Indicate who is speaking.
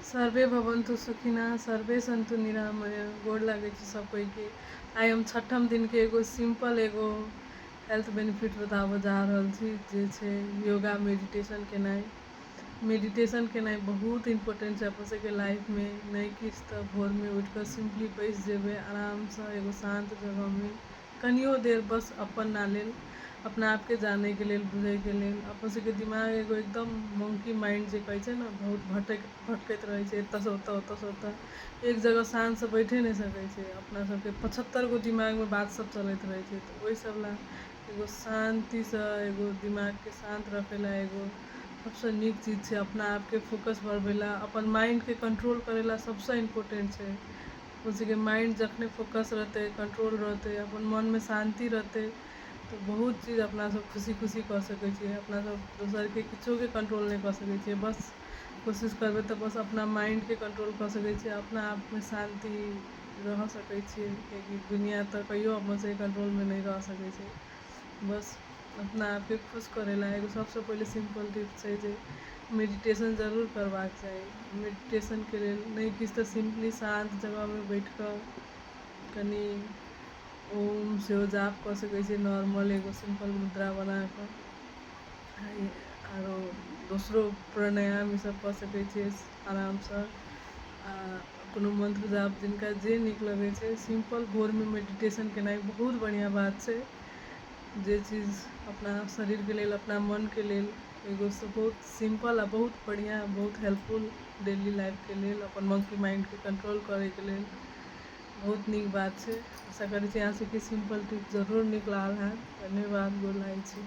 Speaker 1: survey भवन्तु सुखिना सर्वे सन्तु निरामय गोड़ लागै छी सब कोई के आइ हम छठम दिन के एगो सिंपल एगो हेल्थ बेनिफिट बताबऽ जा रहल छी जे छै योगा मेडिटेशन केनाइ मेडिटेशन केनाइ बहुत इम्पोर्टेंट छै अपन सबके लाइफ में नहि किछु तऽ भोर में उठि कऽ सिंपली बैस जेबै आराम सँ एगो शान्त जगह में कनियो देर बस अपना लेल अपना आपके जाने के लेल बुझे के लेल अपन सबके दिमाग एगो एकदम मंकी माइंड जे कहै छै ने बहुत भटक भटकैत रहै छै एतऽ से ओतऽ ओतऽ से ओतऽ एक जगह शान से बैठे नहि सकै छै अपना सबके पचहत्तर गो दिमाग में बात सब चलैत रहै छै तऽ ओहि सब ला एगो शांति से एगो दिमाग के शांत रखे ला एगो सबसे नीक चीज छै अपना आपके फोकस बढ़बै ला अपन माइंड के कंट्रोल करे ला सबसे इम्पोर्टेंट छै अपन सबके माइण्ड जखने फोकस रहतै कन्ट्रोल रहतै अपन मनमे शान्ति रहतै तऽ बहुत चीज अपना सब खुशी खुशी कऽ सकै छी अपना सब दोसरके किछुके कन्ट्रोल नहि कऽ सकै छियै बस कोशिश करबै तऽ बस अपना माइण्डके कन्ट्रोल कऽ सकै छियै अपना आपमे शान्ति रहि सकै छियै किएकि दुनिया तऽ कहियो अपन सबके कन्ट्रोलमे नहि रहि सकै छै बस अपना आपके खुश करै ला एगो सबसँ पहिले सिम्पल टिप्स छै जे मेडिटेशन जरूर करबाक चाही मेडिटेशनके लेल नहि किछु तऽ सिम्पली शान्त जगहमे बैठ कऽ कनि ओम सेहो जाप कऽ सकै छियै नॉर्मल एगो सिम्पल मुद्रा बना कऽ आरो दोसरो प्राणायाम ईसभ कऽ सकै छियै आरामसँ आ कोनो मन्त्र जाप जिनका जे नीक लगै छै सिम्पल भोरमे मेडिटेशन केनाइ बहुत बढ़िऑं बात छै जे चीज अपना शरीरके लेल अपना मनके लेल एगो बहुत सिम्पल आ बहुत बढ़िऑं बहुत हेल्पफुल डेली लाइफके लेल अपन मंकी माइंडके कंट्रोल करैके लेल बहुत नीक बात छै आशा करै छी अहाँ सबके सिम्पल टिप्स जरूर नीक लागल होयत धन्यवाद गोर लागै छी